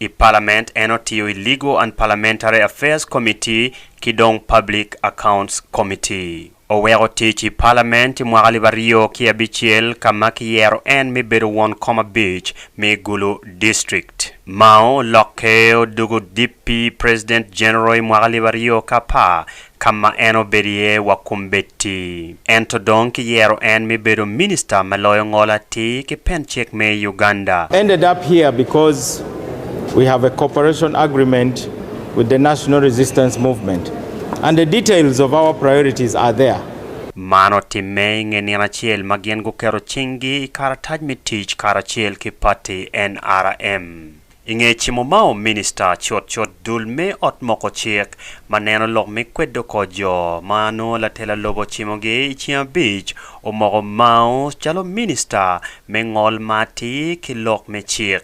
I palament en otiyo i Legal and Parliamentary Affairs Committee ki dong Public Accounts Committee. Oweko tic i palament i mwaka alip aryo ki abicel ka ma kiyero en me bedo won kom abic me Gulu District. Mao olokke odoko Dippi President General i mwaka alip aryo ki apar ka ma en obedo iye wa kombeddi, ento dong kiyero en me bedo Minista me Loyo Ngol Atir ki Pencek me i Uganda. Ended up here because we have a cooperation agreement with the National Resistance Movement and the details of our priorities are there. Man otimme i nge nino acel ma gin guketo cinggi i karatac me tic karacel ki pati NRM. I nge cimo mao Minista cut cut dul me ot moko cik ma neno lok me kwedo kor jo ma nongo latela lobo ocimogi i ceng abic omoko mao calo Minista me ngol ma atir ki lok me cik.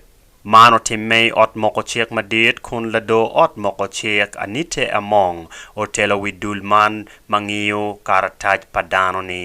Man otimme i ot moko cik madit kun lado ot moko cik Anite Among otelo wi dul man ma ngiyo karatac pa dano ni.